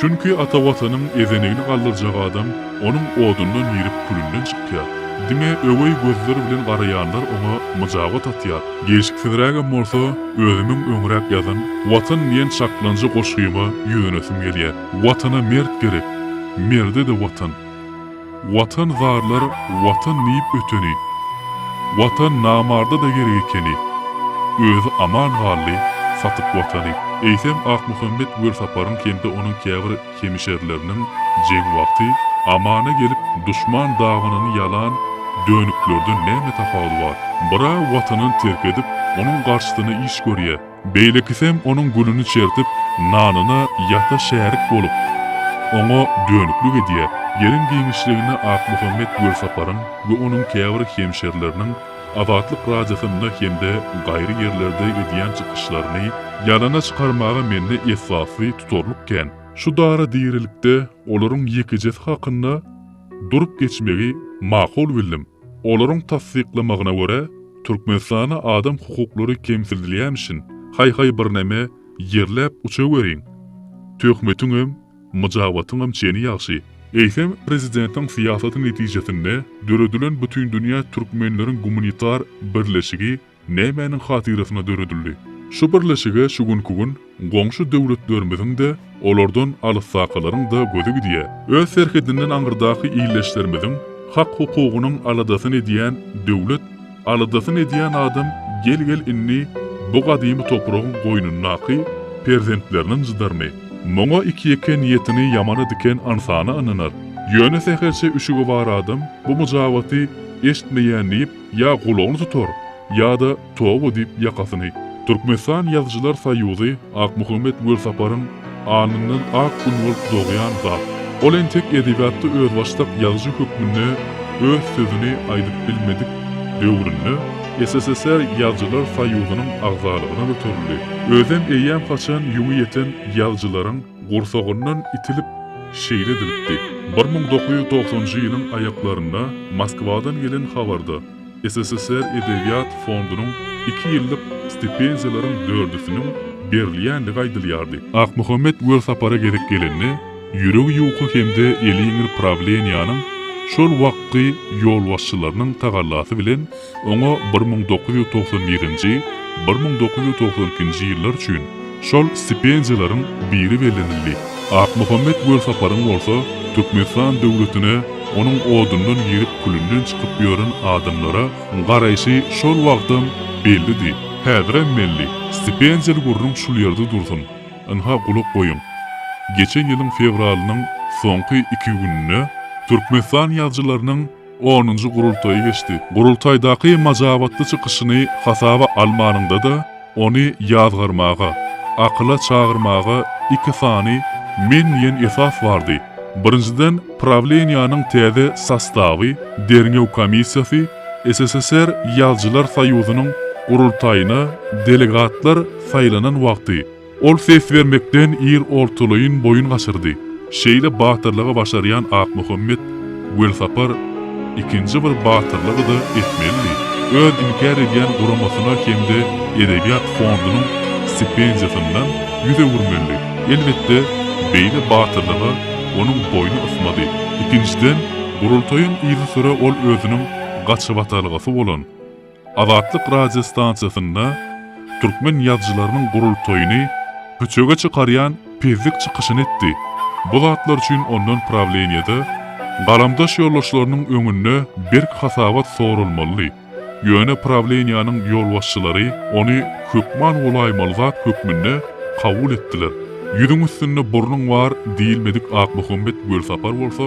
Çünki ata Watanyň ezenigini galdyrjak adam onuň odundan girip külünden çykýar. Diňe öweý gözler bilen garaýanlar oňa myjabat atýar. Gelşiksizrägem bolsa, özümiň öňräk ýazan Watan diýen çaklanjy goşgyma ýüzlenesim gelýär. Watana mert gerek. Merde-de Watan. Watan zarlar watan diýip öteni, Watan namarda-da gerek ekeni, Özi aman galdy, satyp watany. Eýsem Akmuhammet Welsaparyň hem-de onuň käbir hemişerileriniň jeň wagty amana gelip duşman dabanyny ýalan dönüklerden näme tapawudy bar? Bir-ä Watanyn terk edip, onuň garşysyna iş görýä. Beýlekisem onuň gününi çertip, nanyna ýata şärik bolup, oňa dönüklik edýär. Gelin giňişligini Akmuhammet Gölsaparyň we onuň käbir hemşerileriniň Azatlyk Radiosynda hem-de gaýry ýerlerde edýän çykyşlaryny ýalana çykarmaga mende esasy tutarlyk kän. Şu dara dirilikde olaryň ýekejesi hakynda durup geçmegi makul bildim. Olaryň tassyklamagyna görä, Türkmenistanda adam hukuklary kemsidilýämişin, haý-haý birneme ýerläp uçaweriň. Töhmetiňem, myjabatyňam çeni ýagşy. Eýsem, prezidentiň syýasaty netijesinde döredilen Bütindünýä türkmenleriň gumanitar birleşigi nämäniň hatyrasyna döredildi? Şu birleşige şu günki gün goňşy döwletlerimiziň-de, olardan alysdakalaryň-da gözi gidýär. Öz serhedinden aňyrdaky ildeşlerimiziň hak-hukugynyň aladasyny edýän döwlet, aladasyny edýän adam gel-gel indi bu gadymy topragyň goýnundaky perzentleriniň jydaryny, muňa iki-ýeke niýetini ýamana diken ynsana ynanar. Ýöne sähelçe üşügi bar adam bu myjabaty eşitmeýän diýip, Ýa gulagyny tutar, ýa-da toba diýip ýakasyny. Türkmenistan Ýazyjylar soýuzy Akmuhammet Welsaparyň alnyndan ak gün bolup dogýan zat. Ol entek edebiýatda özbaşdak ýazyjy hökmünde öz sözüni aýdyp bilmedik döwründe SSSR Ýazyjylar soýuzynyň agzalygyna göterildi. Özem eýýäm haçan ýüňi ýeten ýazyjylaryň gursagyndan itilip, şeýle edilipdi. Bir müň dokuz ýüz togsanjy ýylyň aýaklarynda Moskwadan gelen habarda SSSR edebiýat fondunyň iki ýyllyk stipendiýalaryň dördüsiniň berilýändigi aýdylýardy. Akmuhammet welsapara gezek gelende, ýüregi ýuka hem-de eli ýeňil prawleniýäniň şol wagtky ýolbaşçylarynyň tagallasy bilen, Oňa bir müň dokuz ýüz togsan birinji, bir müň dokuz ýüz togsan ikinji ýyllar üçin şol stipendiýalaryň biri bellenildi. Akmuhammet Welsaparyň bolsa Türkmenistan döwletine onuň odundan girip külünden çykyp ýören adamlara garaýşy şol wagtam bellidi, häzirem belli. Stipendiýaly gürrüň şul ýerde dursun. Ynha gulak goýuň. Geçen ýylyň fewralynyň soňky iki gününde Türkmenistan ýazyjylarynyň, Onunjy gurultaýy geçdi. Gurultaýdaky majabatly çykyşyny hasaba almanyňda-da, ony ýazgarmaga, akyla çagyrmaga iki sany men diýen esas bardy. Birinjiden, prawleniýäniň täze sostawy, derňew komissiýasy, SSSR Ýazjylar soýuzynyň gurultaýyna delegatlar saýlanan wagty, Ol ses bermekden ir ortalaýyn boýun gaçyrdy. Şeýle batyrlygy başarýan Akmuhammet Welsapar ikinji bir batyrlygy-da etmelidi. Öz inkär edýän guramasyna hem-de edebiýat fondunyň stipendiýasyndan ýüz öwürmelidi. Elbetde, beýle batyrlyga onuň boýny ysmady. Ikinjiden, gurultaýyň yzysüre ol özüniň gaçybatalgasy bolan, Azatlyk radio stansiýasynda türkmen ýazyjylarynyň gurultaýyny köçege çykarýan pezzik çykyşyny etdi. Bu zatlar üçin ondan prawleniýede, galamdaş ýoldaşlarynyň öňünde berk hasabat soralmalydy. Ýöne prawleniýäniň ýolbaşçylary ony hökman golaýmaly zat hökmünde kabul etdiler. Ýüzüň üstünde burnuň bar diýilmedik Akmuhammet Gölsapar bolsa,